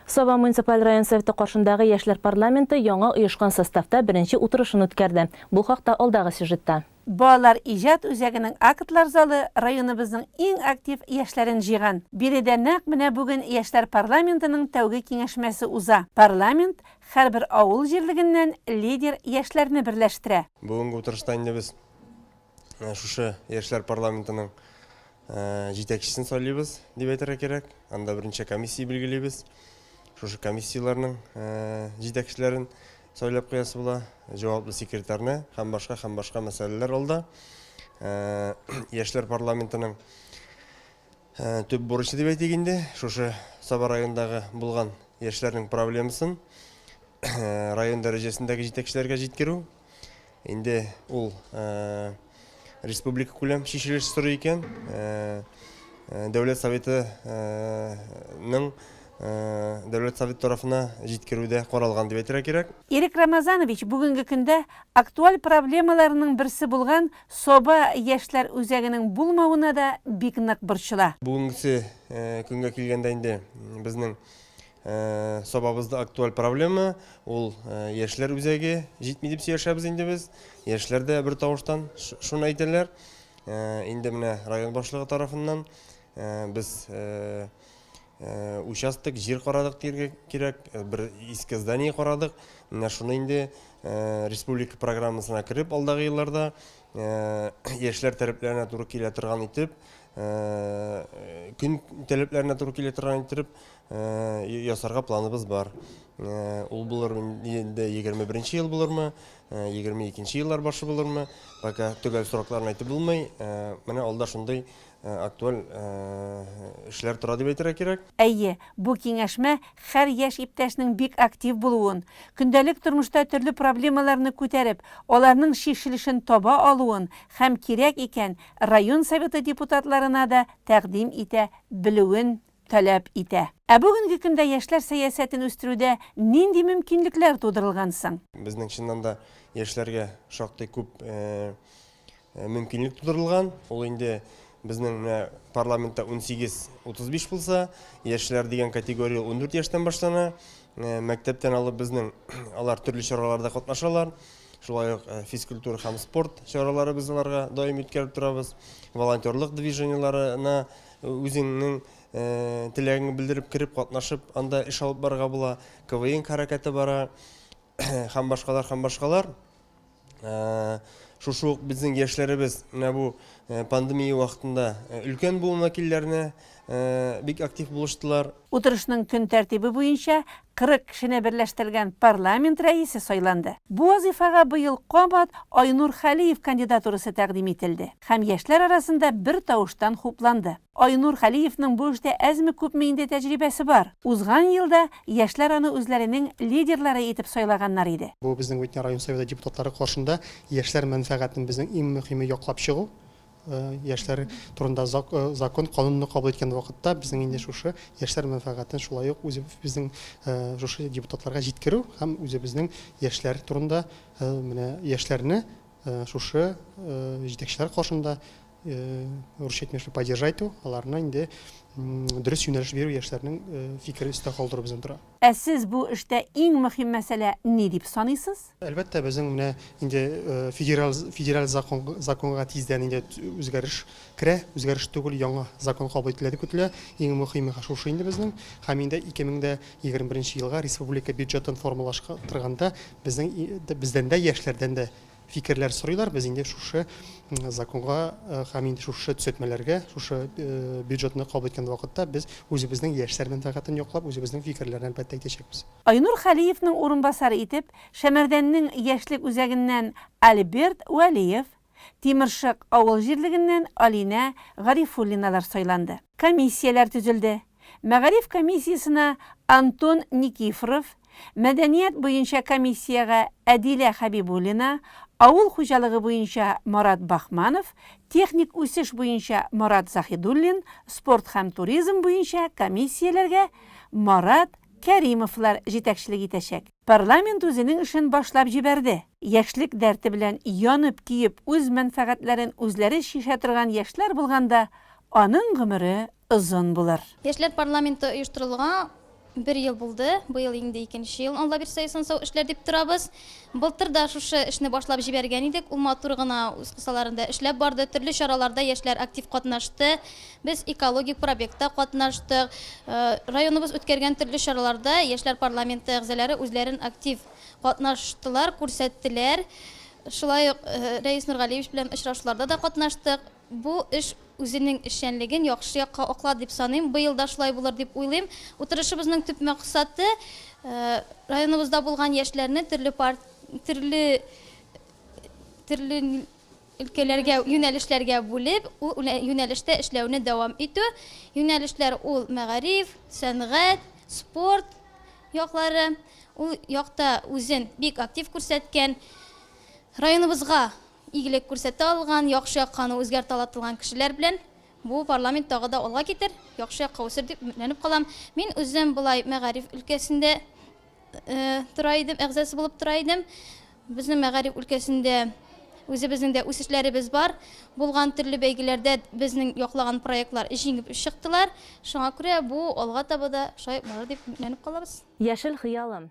Саба муниципаль район советы каршындагы яшьләр парламенты яңа оешкан составта беренче утырышын үткәрде. Бу хакта алдагы сюжетта. Балалар иҗат үзәгенең актлар залы районыбызның иң актив яшьләрен җыйган. Биредә нәкъ менә бүген яшьләр парламентының тәүге киңәшмәсе уза. Парламент һәрбер авыл җирлегеннән лидер яшьләрне берләштерә. Бүгенге утырышта инде без Ә шушы яшьләр парламентының ә, җитәкчесен сайлыйбыз, дип әйтергә кирәк. Анда беренче комиссия билгелибез. Шушы комиссияләрнең ә, җитәкчеләрен сайлап куясы була, җаваплы секретарьны һәм башка һәм башка мәсьәләләр алда. Ә, яшьләр парламентының ә, төп бурычы дип әйтик инде, шушы Саба районындагы булган яшьләрнең проблемасын ә, район дәрәҗәсендәге җитәкчеләргә җиткерү. Инде ул республика күләм чишелеш сорый икән. Дәүләт советының Дәүләт совет тарафына җиткерүдә каралган дип әйтергә кирәк. Ирек Рамазанович бүгенге көндә актуаль проблемаларының берсе булган Соба яшьләр үзәгенең булмавына да бик нык борчыла. Бүгенгесе көнгә килгәндә инде безнең Сабабызда актуаль проблема, ул яшьләр үзәге җитми дип сөйләшәбез инде без. Яшьләр дә бер тавыштан шуны әйтәләр. Инде менә район башлыгы тарафыннан без участок җир карадык дияргә кирәк, бер иске здание карадык. Менә шуны инде республика программасына кереп, алдагы елларда яшьләр таләпләренә туры килә торган итеп, көн таләпләренә туры килә торган итеп, ясарга планыбыз бар. Ул булыр инде 21 нче ел булырмы, 22 нче еллар башы булырмы, пока төгәл срокларын әйтеп булмый. Менә алда шундый актуаль эшләр тора дип әйтергә кирәк. Әйе, бу киңәшмә хәр яшь иптәшнең бик актив булуын, көндәлек тормышта төрле проблемаларны күтәреп, аларның чишелешен таба алуын һәм кирәк икән, район Советы депутатларына да тәкъдим итә белүен таләп итә. Ә бүгенге көндә яшьләр сәясәтен үстерүдә нинди мөмкинлекләр тудырылган соң? Безнең чыннан да яшьләргә шактый күп мөмкинлек тудырылган. Ул инде безнең менә парламентта унсигез, утыз биш булса, яшьләр дигән категория ул ундүрт яшьтән башлана. Мәктәптән алып безнең алар төрле чараларда катнашалар. Шулай ук физкультура һәм спорт чаралары без аларга даими үткәреп торабыз. Волонтерлык движениеларына Үзеңнең теләгеңне белдереп кереп катнашып, анда эш алып барырга була. КВН хәрәкәте бара һәм башкалар һәм башкалар. Шушы ук безнең яшьләребез менә бу пандемия вакытында өлкән буын вәкилләренә бик актив булыштылар. Утырышның көн тәртибе буенча 40 кешене берләштергән парламент рәисе сайланды. Бу вазыйфага быел кабат Айнур Хәлиев кандидатурасы тәкъдим ителде һәм яшьләр арасында бер тавыштан хупланды. Айнур Хәлиевның бу эштә әзме-күпме инде тәҗрибәсе бар. Узган елда яшьләр аны үзләренең лидерлары итеп сайлаганнар иде. Бу безнең Үтнә район Советы депутатлары каршында яшьләр мәнфәгатен, безнең иң мөхиме, яклап чыгу. Яшьләр турында закон канунны кабул иткән вакытта безнең инде шушы яшьләр мәнфәгатен шулай ук үзебезнең шушы депутатларга җиткерү һәм үзебезнең яшьләр турында менә яшьләрне шушы җитәкчеләр каршында русча әйтмешли поддержать итү, аларны инде дөрес юнәлеш бирү яшьләрнең фикерен өстә калдыру бездән тора. Ә сез бу эштә иң мөһим мәсьәлә ни дип саныйсыз? Әлбәттә, безнең менә инде федераль федераль закон законга тиздән инде үзгәреш керә. Үзгәреш түгел, яңа закон кабул ителә дип көтелә. Иң мөһиме шушы инде безнең. Һәм инде 2021 елга республика бюджетын формалаштырганда безнең бездән дә, яшьләрдән дә фикерләр сорыйлар. Без инде шушы законга һәм инде шушы төзәтмәләргә, шушы бюджетны кабул иткән вакытта без үзебезнең яшьләр мәнфәгатен яклап, үзебезнең фикерләрне әлбәттә әйтәчәкбез. Айнур Хәлиевның урынбасары итеп Шәмәрдәннең яшьлек үзәгеннән Альберт Вәлиев, Тимершык авыл җирлегеннән Алинә Гарифуллиналар сайланды. Комиссияләр төзелде. Мәгариф комиссиясенә Антон Никифоров, мәдәният буенча комиссиягә Әдилә Хәбибуллина, авыл хуҗалыгы буенча Марат Бахманов, техник үсеш буенча Марат Заһидуллин, спорт һәм туризм буенча комиссияләргә Марат Кәримовлар җитәкчелек итәчәк. Парламент үзенең эшен башлап җибәрде. Яшьлек дәрте белән янып-көеп, үз мәнфәгатьләрен үзләре чишә торган яшьләр булганда, аның гомере озын булыр. Яшьләр парламенты оештырылуга бер ел булды. Быел инде икенче ел, Алла бирсә, исән-сау эшләр дип торабыз. Былтыр да шушы эшне башлап җибәргән идек. Ул матур гына үз кысаларында эшләп барды. Төрле чараларда яшьләр актив катнашты. Без экологик пробектта катнаштык. Районыбыз үткәргән төрле чараларда яшьләр парламенты әгъзалары үзләрен актив катнаштылар, күрсәттеләр. Шулай ук Рәис Нургалиевич белән очрашуларда да катнаштык. Бу эш үзенең эшчәнлеген яхшы якка аклады дип саныйм. Быел да шулай булыр дип уйлыйм. Утырышыбызның төп максаты, районыбызда булган яшьләрне төрле төрле төрле Өлкәләргә, юнәлешләргә бүлеп, ул юнәлештә эшләүне дәвам итү. Юнәлешләр ул, мәгариф, сәнгать, спорт яклары. Ул якта үзен бик актив күрсәткән, районыбызга игелек күрсәтә алган, яхшы якка аны үзгәртә ала торган кешеләр белән бу парламент тагы да алга китер, яхшы якка үсер дип өметләнеп калам. Мин үзем болай мәгариф өлкәсендә тора идем, әгъзасы булып тора идем. Безнең мәгариф өлкәсендә үзебезнең дә үсешләребез бар. Булган төрле бәйгеләрдә безнең яклаган проектлар җиңеп чыктылар. Шуңа күрә бу алга таба да шулай барыр дип өметләнеп калабыз. Яшел хыялым,